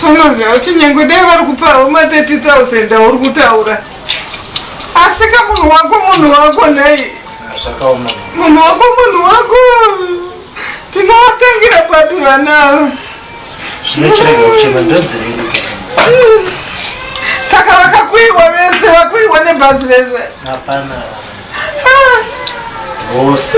Sonoziva kuti nyange dai vari kupawo ma 30000 auri kutaura asi ka munhu wako munhu wako nhai munhu wako munhu wako tinovatangira papi vana ava saka vakakuiwa vese vakuiwa nebhazi vese vose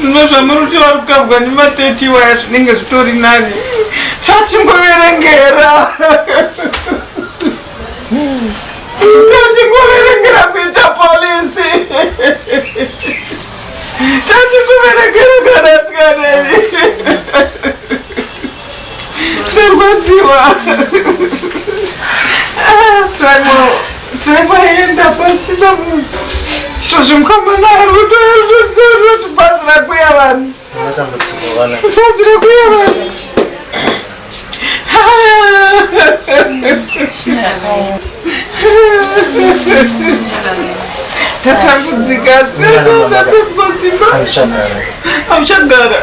zvino zvamuri kuti vari kukabwa nema30 waya zvinenge zvitori nani tatingoverengera tatingoverengera kuita polisi tatingoverengera kana sikaneni Ndarwadziwa. Ah, Tribal, tribal enda pasina munhu. Zvozvi mukama naye ari kutoona kuti bhazi rakuya vanhu. Bhazi rakuya vanhu. Tatambudzika, sikaitozapedzwa simba. Auchagara.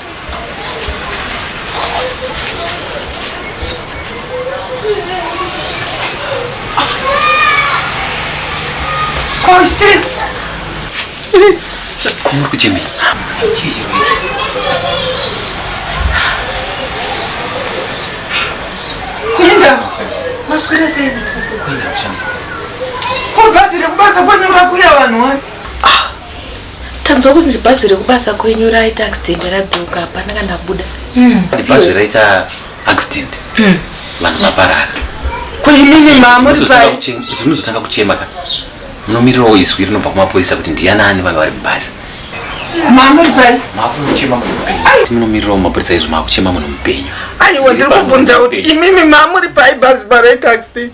Chakuru kuchemei. Ko bhazi rekubasa kwanyura kuya vanhu wani? Tanzwa kunzi bhazi rekubasa kwenyu raita accident radhuka hapana kana buda. Mm. Bhazi raita accident. Mm. Vanhu vaparara. Kuzvimini mama uri pai. Unozotanga kuchema kana. Munomirirawo izwi rinobva kumapurisa kuti ndiyana ani vanga vari mubhazi. Mama uri pai. Makuchema munhu mupenyu. Munomirirawo mapurisa izwi makuchema munhu mupenyu. Aiwa ndiri kubvunza kuti imimi mama uri pai bhazi paraita accident.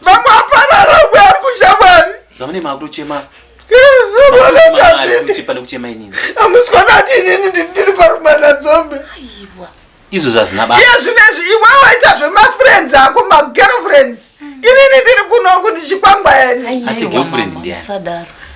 vamwe aparara mwe ari kuzha mwari zvamune makutochema kuchema inini amuswana ati inini ndiri parumana dzombe izvo zvazina ba iye zvinezvi iwe waita zvemafriends ako magirlfriends inini ndiri kunoku ndichikwangwa yani ati girlfriend ndiani